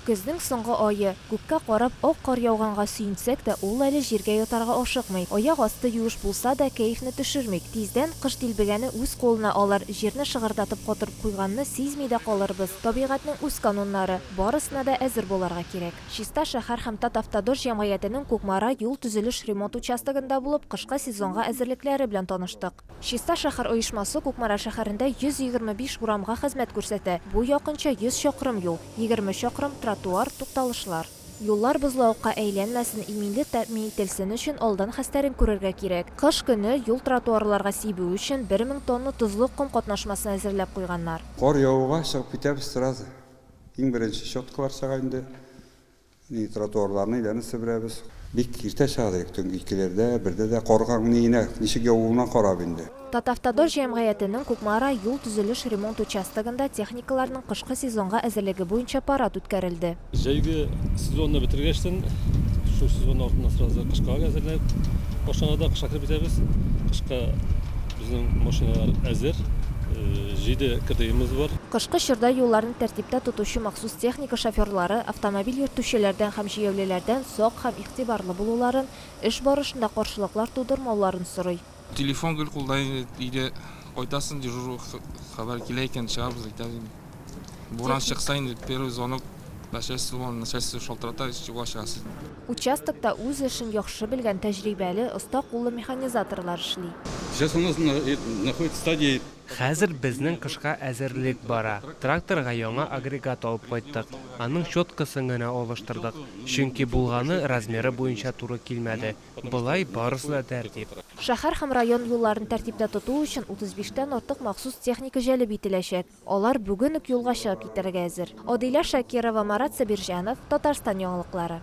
Көзнең соңгы ае. Күккә карап, ак кар яуганга сөенсәк тә, ул әле җиргә ятарга ашыкмый. Аяк асты юеш булса да, кәефне төшермик. Тиздән кыш дилбегәне үз кулына алыр, җирне шыгырдатып катырып куйганны сизми дә калырбыз. Табигатьнең үз кануннары. Барысына да әзер булырга кирәк. Чиста шәһәр һәм Татавтодор җәмгыятенең Кукмара юл төзелеш-ремонт участогында булып, кышкы сезонга әзерлекләре белән таныштык. Чиста шәһәр оешмасы Кукмара шәһәрендә 125 урамга хезмәт күрсәтә. Бу якынча 100 чакрым юл, 20 чакрым, тротуар, тукталышлар. Юллар бозлавыкка әйләнмәсен, иминлек тәэмин ителсен өчен алдан хәстәрен күрергә кирәк. Кыш көне юл тротуарларга сибү өчен 1000 тонна тозлы ком катнашмасын әзерләп куйганнар. Кар явуга чыгып китәбез сразу. Иң беренче щеткалар чыга инде. Ни тротуарларны әйләнеп себерәбез. Бик иртә чыга дидек, төнге икеләрдә, бердә дә. Карга ни генә, ничек явуына карап инде. Татавтодор җәмгыятенең Кукмара юл-төзелеш ремонт участогында техникаларның кышкы сезонга әзерлеге буенча парад үткәрелде. Җәйге сезонны бетергәчтен, шул сезонның артыннан сразу кышка әзерләнеп башланыр да, кышка кереп китәбез. Кышка безнең машиналар әзер, җиде КДИыбыз бар. Кышкы чорда юлларны тәртиптә тотучы махсус Техника шоферлары автомобиль йөртүчеләрдән һәм җәяүлеләрдән сак һәм игътибарлы булуларын, эш барышында каршылыклар тудырмауларын сорый. Телефон гел кулда инде, өйдә кайтасың, дежур хәбәр килә икән, чыгабыз, әйтәбез инде. Буран чыкса инде, первый звонок начальстводан, начальство шалтырата, чуга чыгасың. Участокта үз эшен яхшы белгән тәҗрибәле, оста куллы механизаторлар эшли. Сейчас у нас находится стадия. Хәзер безнең кышка әзерлек бара. Тракторга яңа агрегат алып кайттык. Аның щеткасын гына алыштырдык, чөнки булганы размеры буенча туры килмәде. Болай барысы да тәртип. Шәһәр һәм район юлларын тәртиптә тоту өчен 35 тән артык махсус техника җәлеп ителәчәк. Алар бүген үк юлга чыгып китәргә әзер. Адилә Шакирова, Марат Сабирҗанов, Татарстан яңалыклары.